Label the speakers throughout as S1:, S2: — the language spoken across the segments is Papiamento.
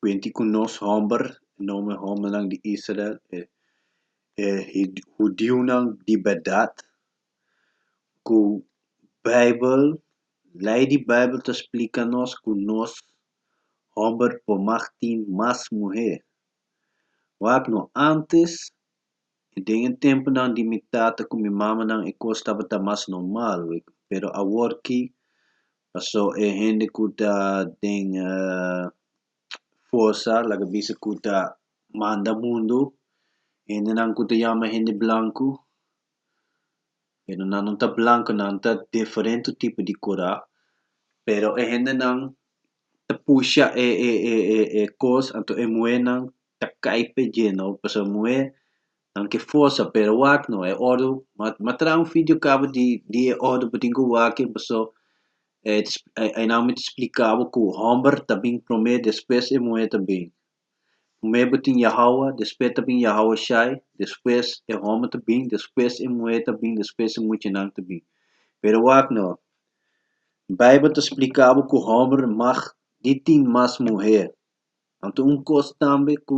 S1: Cuenti cu nos homber, e nomber hombernan di Israel, e hudiunan di berdad, cu bijbel, lei di bijbel ta splica nos cu nos homber por mag tin mas muher. Wak no antes. I den e tempunan di mi tata ku mi mamanan e kos tabata mas normal, pero aworki pasó e hende ku ta den forsa laga bisa ku ta manda mundu, e hendenan ku ta yama hende blanku, pero nan no ta blanku nan ta diferente tipo di kura, pero e hendenan ta pusha e e e e kos anto e muhenan ta kai p'e djeno pasobra muhé nan ke forsa p'e wak no e ordu m'a traha un fidio cabo di di e ordu bo tin cu waki paso e aynan mi ta splica bo cu homber ta bini prome despues e muhe ta bini prome bo tin yahawa despues ta bini yahawa shai despues e homber ta bini despues e muhe ta bini despues e muchanan ta bini pero wak no bible ta splica bo cu homber mag di tin mas muhe Anto un kos tambe ku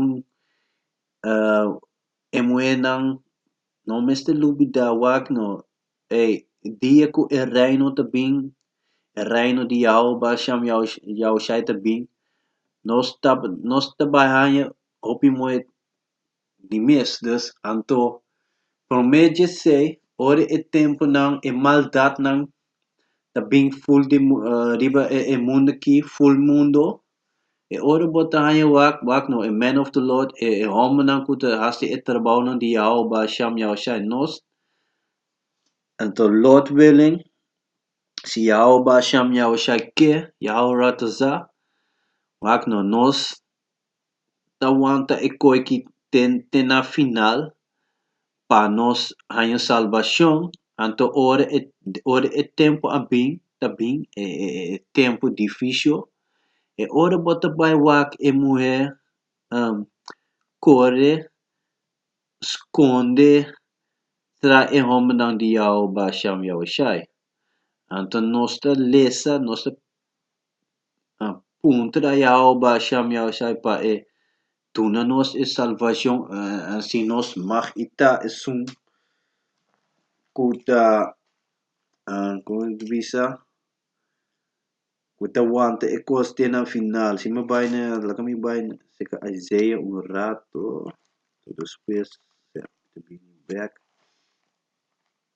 S1: e muhénan no mester lubidá wak no, e dia ku e Reino ta bin, e Reino di Yahò, Bashan Yahushai ta bin, nos ta nos ta bai haña hopi muhé Di mes, dus, anto promé djesei ora e tempunan, e maldatnan ta bin ful di riba e mundu aki, ful mundu, e ora bo ta haña wak, wak no, e men of the lord, e hombernan ku ta hasi e trabounan di Yahawah Baal Sham, Yahawah Shai nos. Anto lord willing, si Yahawah Baal Sham, Yahawah Shai ke, Yahawah Ra ta sa, wak no, nos ta wanta e koe ki ten te na final pa nos haña salbashon, anto ora e ora e tempu a bin ta bin e e e tempu di fisho, e ora bo ta bai wak e muhé kore, skonde tra e hòmbernan di Yahò Basham Yahushai. Anto nos ta lesa, nos ta punto da Yao basha mi a basha pa e duna nos e salvashon si nos mag i ta esun ku ta komo e bisa ku ta wanta e kos te nan final si mi bai na laga mi bai na seka Isaiah un rato despues ta bini bek.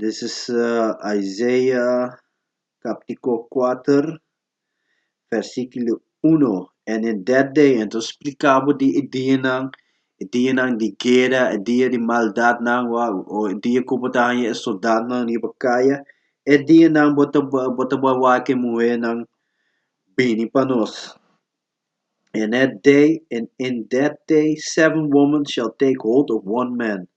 S1: This is Isaiah captico kuater versiculo uno, En e dèt day, anto splika bo di e dianan, e dianan di guera, e dia di maldatnan, wa, o e dia ku bo ta haña e soldadnan riba kaya, e dianan bo ta bo ta wak e muhenan bini pa nos. in that day, and in that day, seven woman shall take hold of one man.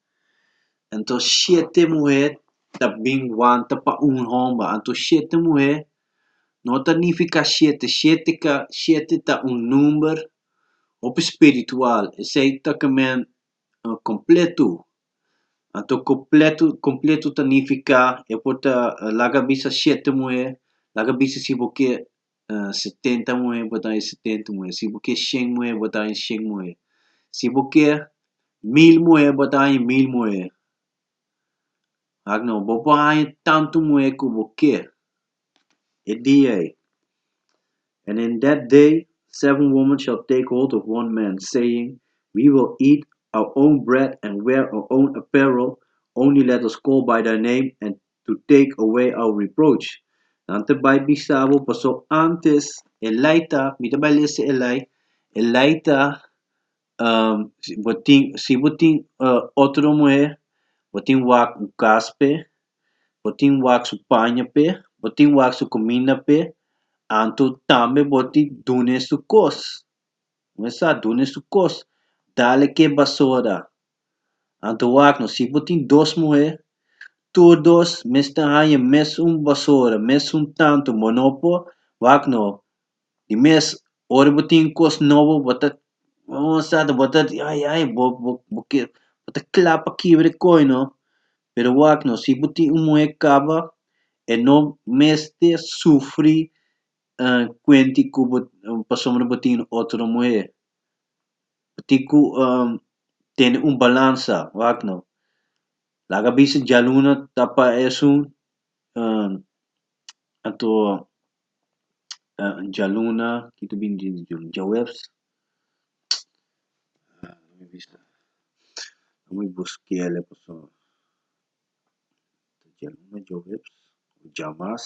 S1: Anto shete muhé ta bin wanta pa un homba. Anto shete muhé no ta nifiká shete. Shete ka, shete ta un number hopi spiritual. Esei ta ke men kompletu. Anto kompletu, kompletu ta nifiká, e por ta laga bisa shete muhé, laga bisa si bo ke setenta muhé bo ta den e setenta muhé si bo kier shen muhé bo ta den e shen muhé si bo kier mil muhé bo ta den e mil muhé akno bo por haña tantu muhé ku bo kier e dia ei and in that day seven woman shall take hold of one man saying we will eat our own bread and wear our own apparel only let us call by thy name and to take away our reproach. Nan ta bai bisa bo pasobra antes e lei ta, mi ta bai lesa e lei, e lei ta um si bo tin si bo tin uh otro muher, bo tin wak un kas p'e, bo tin wak su paña p'e, bo tin wak su kuminda p'e, anto tambe bo tin dun'e su kos. Bo mester sa dun'e su kos. Dal e ke basora. Anto wak no, si bo tin dos muhé, tur dos mes ta haña mes un basora, mes un tantu bo no por wak no. Di mes ora bo tin kos nobo bo ta bo ta ai ai bo bo bo ke bo ta kla pa kibra e koi no, pero wak no si bo tin un muhé kaba e no mester sufri kuenti ku bo pasobra bo tin otro muhé. tin ku tene un balansa, wak no? Laga bisa djaluna ta pa esun anto djaluna, ki ta bini djis di djaluna? Djaweps, djaweps bisa, bai bus kele paso, djaluna, djaweps, djamas.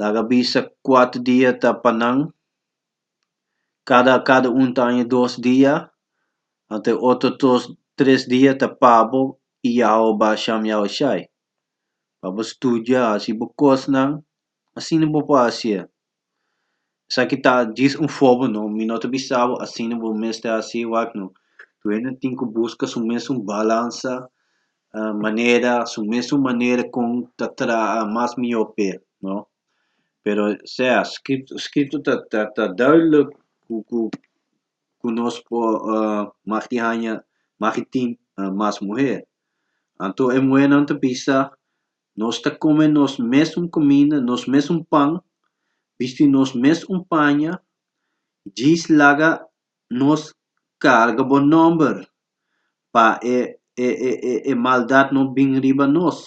S1: laga bisa kuatu dia ta pa nan, kada kada un ta aña dos dia, anto e otro dos, tres dia ta pa bo i yaho a bai sham, yaho a shai, pa bo studia, hasi bo kosnan, asina bo por hasié, Esaki ta djis un fobo, no? Mi no ta bisa bo asina, bo mester hasi e wak, no? Dueño tin ku buska su mes un balansa manera, su mes un manera kon ta traha mas mihó pa e, no? Pero sea, Skritu, Skritu ta ta duidelijk ku ku ku nos por mag di haña, mag di tin mas muher. Anto e muhernan ta bisa Nos ta kome nos mes un kominda, nos mes un pan, bisti nos mes un paña, djis laga nos karga bo nòmber, pa e e e e maldat no bin riba nos.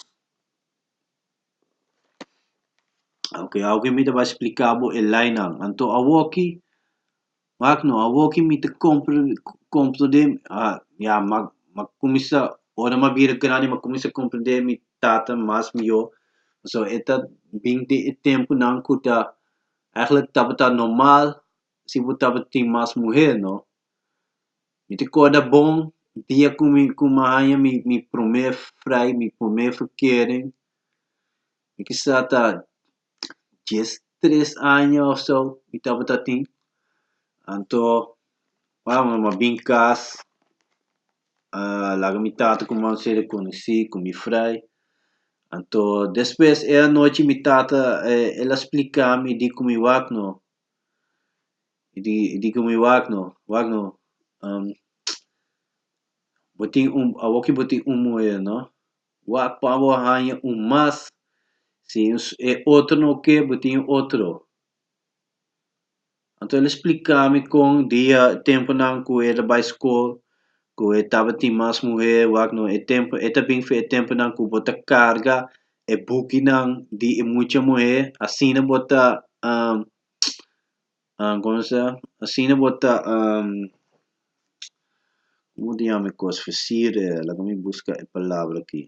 S1: Oke, awor mi ta bai spliká bo e leinan. Anto awoki Mak no, awoki mi ta komprende, ya, mak m'a kuminsá, ora m'a bira grandi m'a kuminsá komprende mi tata mas mihó, pasobra e ta bin di e tempunan ku ta eigenlijk tabata normal si bo tabatin mas muher, no? Mi ta korda bon dia ku mi ku mi haña mi mi promé frei, mi promé verkering, mi kisas ta dies tres aña o so mi tabata tin. Anto wak nan a bin kas a laga mi tata ku mam ser rekonosí ku mi frai. Anto despues e anochi mi tata el a splika mi diko mi wak no, di diko mi wak no, wak no bo tin un, awoki bo tin un muhé no. Wak pa bo haña un mas, si e otro no oke bo tin e otro. Anto el a spliká mi kon dia e tempunan ku e ta bai skol, ku e tabatin mas muhé, wak no e tempu e ta bin e tempunan ku bo ta karga e bukinan di e mucha muhé, asina bo ta Ahm, como se llama? Asina bo ta ahm, como ta yama e cos fa sir e, laga mi busca e palabra aki.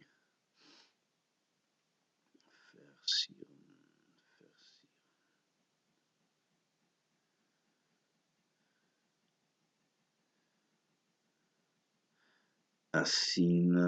S1: Asina,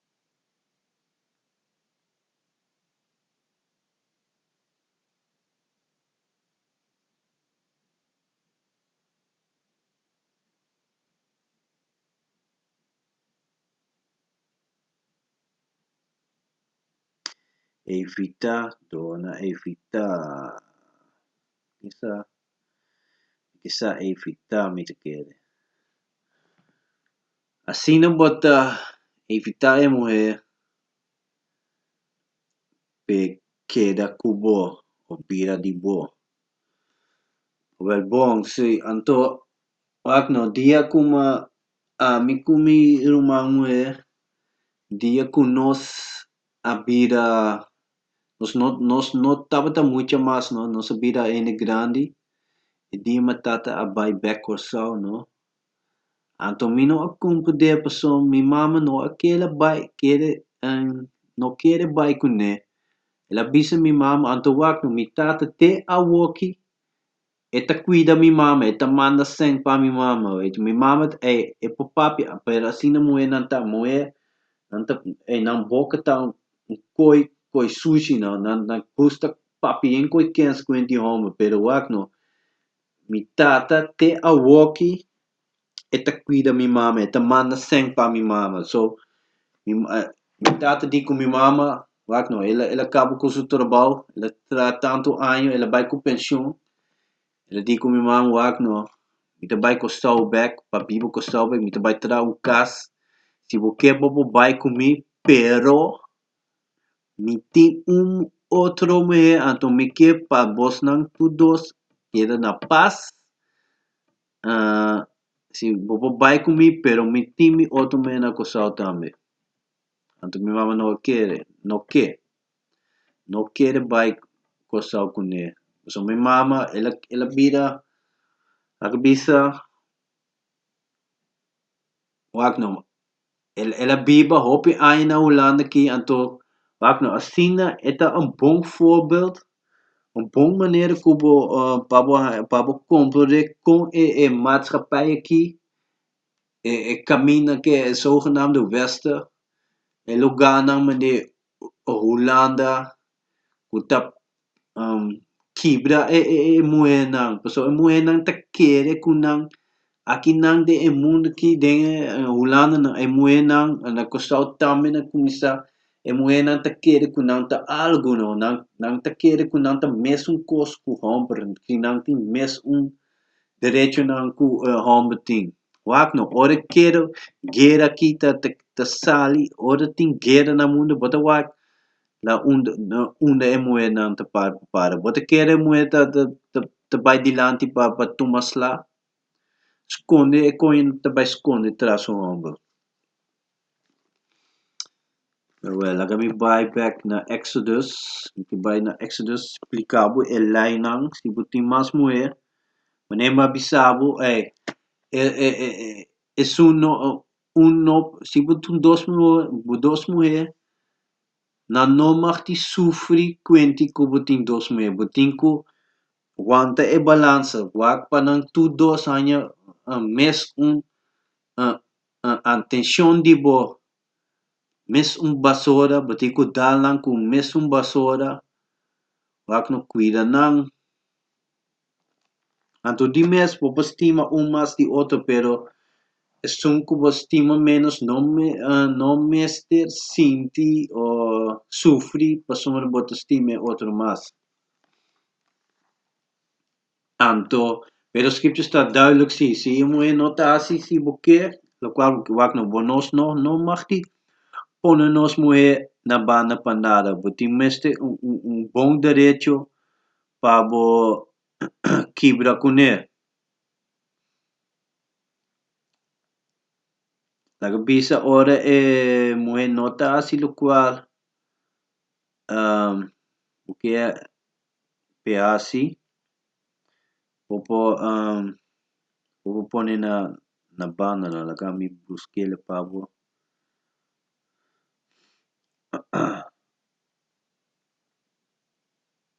S1: evitá duna evitá kisa kisa evitá mi ta kere. Asina bo ta evitá e muhé p'e keda ku bo o bira di bo. Wel bon, si anto wak no dia kuma ami ku mi ruman muhé, dia ku nos a bira, nos no nos no tabata mucha mas no, nos a bira hende grandi, e di matata a bai bèk Kòrsou no, Anto mi no a cumpri dje pasobra mi mama no a kere bai kere no kere bai cu ne. El a bisa mi mama, anto wak no, mi tata te awoki e ta cuida mi mama, e ta manda sèn pa mi mama, wèt. Mi mama ta ei e por papia, pero asina muhernan ta, muher nan ta ei nan boca ta un coi coi sushi, nan nan gusta papia den koikens cuent di homber, pero wak no. Mi tata te awoki e ta kuida mi mama, e ta manda sèn pa mi mama. So, mi mi tata di ku mi mama, wak nò, el a el a kaba ku su trabou, el a traha tantu año, el a bai ku penshun, el a di ku mi mama, wak nò, mi ta bai Kòrsou bèk, pa biba Kòrsou bèk, mi ta bai traha un kas. Si bo ke bobo bai ku mi, pero Mi tin un otro muhé, anto mi ke pa bosnan tur dos keda na pas. si bo por bai ku mi, pero mi tin mi otro muhé na Kòrsou tambe. Anto mi mama no a kere, no ke, no kere bai Kòrsou kuné. Pasobra mi mama, el a, el a bira, el a bisa, wak nòma. El el a biba hopi aña na Hulanda aki, anto wak no asina e ta un bon voorbeeld, un bon manera ku bo pa bo pa bo komprende kon e e maatschappij aki, e e kaminda ke e zogenaamde wester, e loganan mende Hulanda, ku ta kibra e e e muhernan, pasobra e muhernan ta kere ku nan, aki nan den e mundu aki den e hulandanan e muhernan na kustau tambe na kuminsá e muhernan ta kere ku nan ta algu no, nan nan ta kere ku nan ta mes un kos ku hòmber, ku nan tin mes un derechonan ku e hòmber tin, wak no, ora e kere guera aki ta ta sali, ora tin guera na mundu bo ta wak La un la unda e muhernan ta para pa para. Bo ta kere e muher ta ta ta ta bai dilanti pa pa tuma sla? Skonde e koño no ta bai skonde tras un hombro. Nawel, laga mi bai bèk na Exodus. Mi ta bai na Exodus splika bo e leinan. Si bo tin mas muher, manera mi a bisa bo, ey, e e e e esun no Un nop, si bo tin dos bo dos muhé, nan no mag tin sufri kuenti ku bo tin dos muhé. Bo tin ku wanta e balansa. Wak pa nan tur dos haña mes un atenshon di bo, mes un basora. Bo tin ku dal nan ku mes un basora. Wak no kuida nan. Anto di mes bo por stima un mas di otro, pero esun ku bo stima ménos no no mester sinti o sufri pasobra bo ta stima e otro mas. Anto, pero Scriptures ta duidelijk si, si e muhé no ta hasi si bo ke, lokual bo ke wak no, bo nos no no mag di pone nos muhé na banda pa nada, bo tin mester un un un bon derecho pa bo kibra kuné. Lo ke bisa ora e muhé no ta hasi lokual bo ke p'e hasi, bo por bo por pone na banda nan laga mi buskela pa bo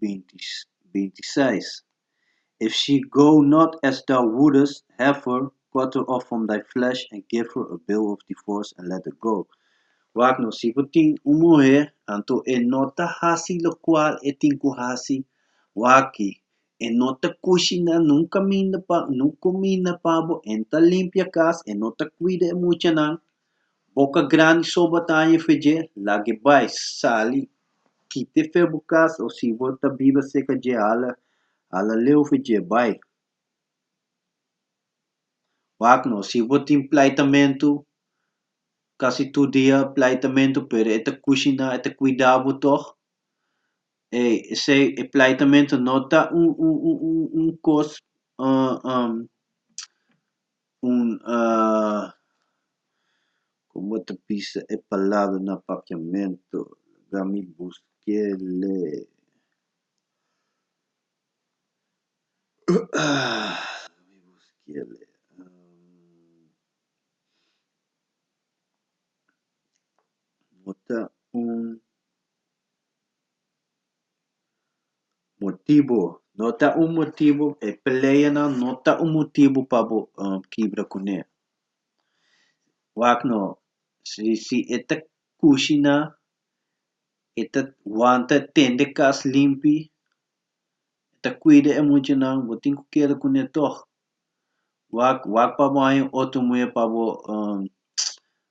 S1: 26. If she go not as thou wouldest have her, cut her off from thy flesh, and give her a bill of divorce, and let her go. Wak no, si bo tin un muhé, anto e no ta hasi lokual e tin ku hasi, waki, e no ta kushiná nun kaminda pa, nun kuminda pa bo, e no ta limpia kas, e no ta kuida e muchanan, Boka grandi soba ta haña fe dje, lag'e bai, sali, kit'e fe bu kas, o si bo ta biba serka dje, hala, hala leu fe dje, bai. Wak'ne, o si bo tin plaitamentu, kasi tur dia plaitamentu, pero e ta kushiná, e ta kuidá bo tòg, ei, esei, e plaitamentu no ta un kos Un como bo ta bisa e palabra na papiamento laga mi buske le bo ta un. Motibu, no ta un motibu, e peleanan no ta un motibu pa bo kibra kuné. Wak no, si si e ta kushi na, e ta wanta e tende kas limpi, e ta kuida e muchanan, bo tin ku keda kuné tòg. Wak wak pa bo haña otro muña pa bo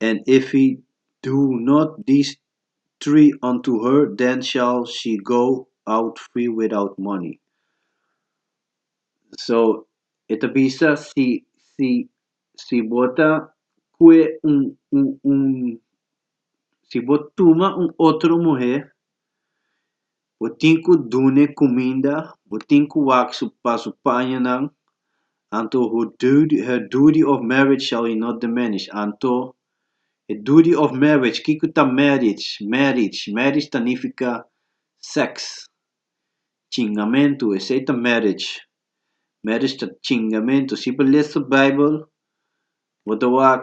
S1: and if he do not these three unto her, then shall she go out free without money. So, e ta bisa si si si bo ta kue un un un si bo tuma un otro muhé Bo tin cu dune cuminda, bo tin cu wak su pa su pañanan, anto who duty, her duty of marriage shall he not diminish, anto, e duty of marriage, kico ta marriage, marriage, marriage ta nifica sex, cingamentu, esey ta marriage, marriage ta cingamentu, si bo lees su bijbel, bo ta wak,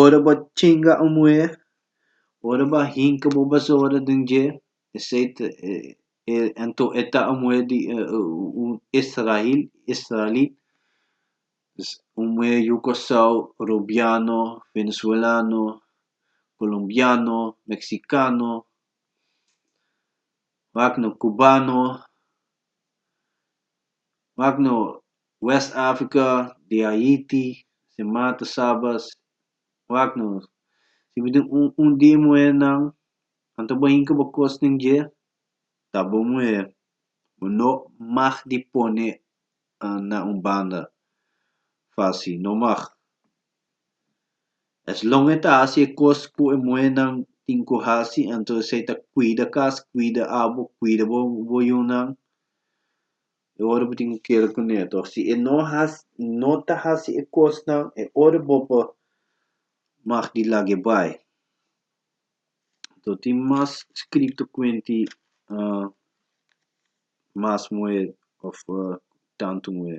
S1: Ora bo a chinga un muher, ora bo a hinka bo basura den dje, esei ta e e anto e ta un muher di un israel israelit, dus un muher yu kòrsou, robiano, venezuelano, kolombiano, meksikano, wak nan kubano. wak no west africa di haiti si mata sabas wak no si bo tin un dia muhé nan anto bo hinca bo cos den dje ta bo muhé bo no mag di pone na un banda fasi no mag Eslon e ta hasi e kos ku e muhénan tin ku hasi, anto esei ta kuida kas, kuida abo, kuida bo bo yunan, e ora bo tin ku kere ku ne. Tò, si e no has e no ta hasi e kosnan, e ora bo bo mag di lag'e bai. Tò, tin mas skrito kuenti mas muhé òf tantu muhé.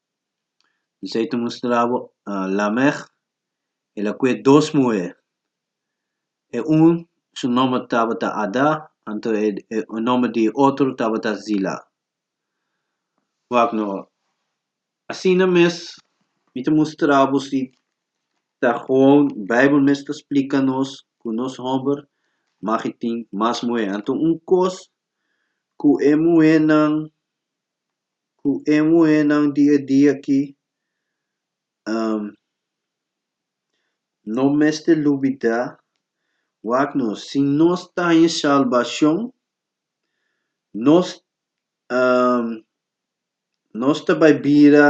S1: Bisai ta mustra bo Lamech, el a kue dos muhé. E un su nòmber tabata Adá, anto e nòmber di e otro tabata Zilá. Wak nò, asina mes mi ta mustra bo si ta gewoon Beibel mes ta splika nos ku nos hòmber mag tin mas muhé. Anto un kos ku e muhénan. ku e muhénan di e dia aki no mester lubidá, wak nos, si nos ta haña salbashon, nos nos ta bai bira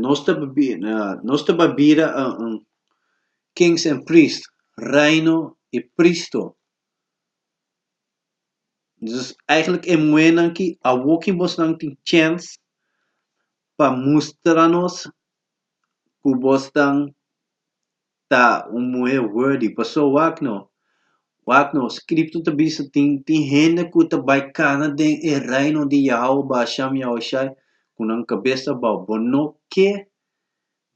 S1: Nos ta nos ta bai bira un kings and priest reino i pristo dus eigenlik e muhenan ki awo ki bosnan tin chèns pa mustra nos ku bosnan. ta un muhé worthy paso wak no wak no scripto ta bisa tin tin hende ku ta bai kana den e reino di Yahawah ba Hasham Yahushai ku nan kabes ta bou bo no ke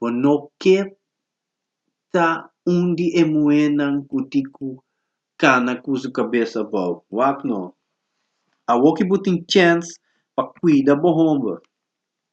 S1: bo no ke ta un di e muhénan ku tin ku kana ku su kabes ta bou wak no awoki bo tin chance pa kuida bo homber.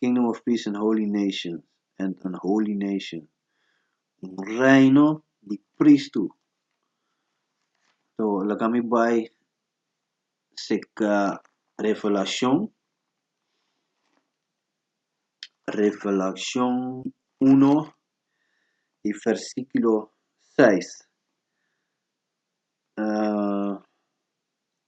S1: Kingdom of Peace and Holy Nation, and an Holy Nation, un reino di pristu. To, laga mi bai cerca Revelacion, Revelacion uno y versiculo seis.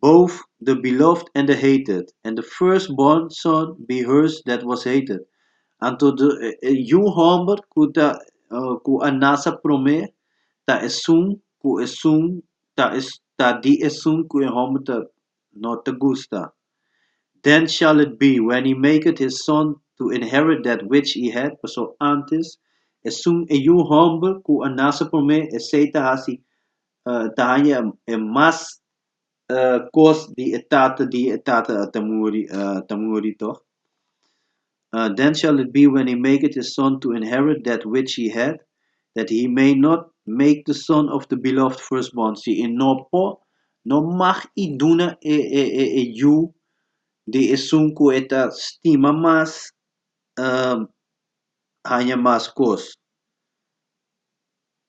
S1: Both the beloved and the hated, and the firstborn son be hers that was hated. Anto e yu hòmber ku ta ku a nasa promé ta esun ku esun ta e ta di esun ku e hòmber ta no ta gusta. Then shall it be, when he maketh his son to inherit that which he had, paso antes, esun e yu hòmber ku a nasa promé esei ta hasi ta haña e mas kos di e tata di e tata a ta muri a ta muri tog. Then shall it be when he maketh his son to inherit that which he had, that he may not make the son of the beloved firstborn, si e no por, no mag i duna e e e e yu di esun ku e ta stima mas haña mas kos.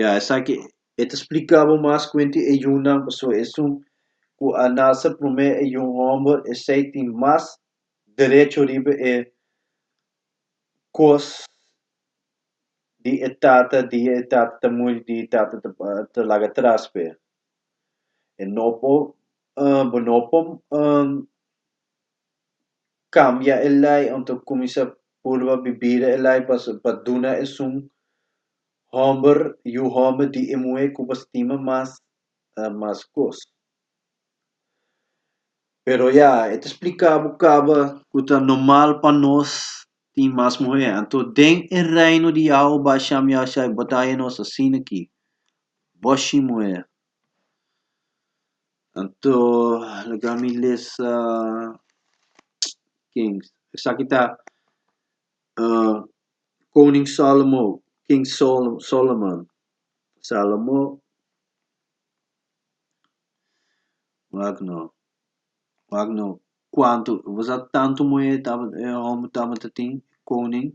S1: ya esaki e ta splika bo mas kuenti e yunnan paso esun ku a nase promé e yun hòmber esei tin mas derecho riba e kos di e tata di e tata ta muri di e tata ta laga tras p'e e no por bo no por cambia e ley on ta cuminsa purba bibida e ley pa pa duna esun homber yu homber di e muhe cu bo stima mas na mas cos. Pero ya e ta splicabo caba cu ta normal pa nos tin mas muhe anto den e reino di Yahua ba sham Yahua Shai bo ta haña nos asina ki bo shin muhe. Anto laga mi lesa king esaki ta koning sòlomo king solomon salomo wak nò wak nò. Cuantu bo sa tantu muhé e homber tabata tin, koning,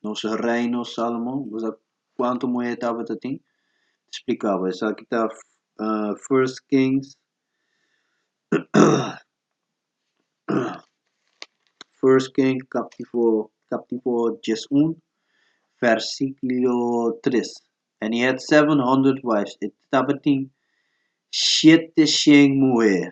S1: nos reino Salomon, bo sa cuantu muhé e tabata tin? Splikaba, Esaki ta First Kings First Kings capitulo capitulo dies un versiculo tres, And he had seven hundred wives, e tabata tin shete shen muhé,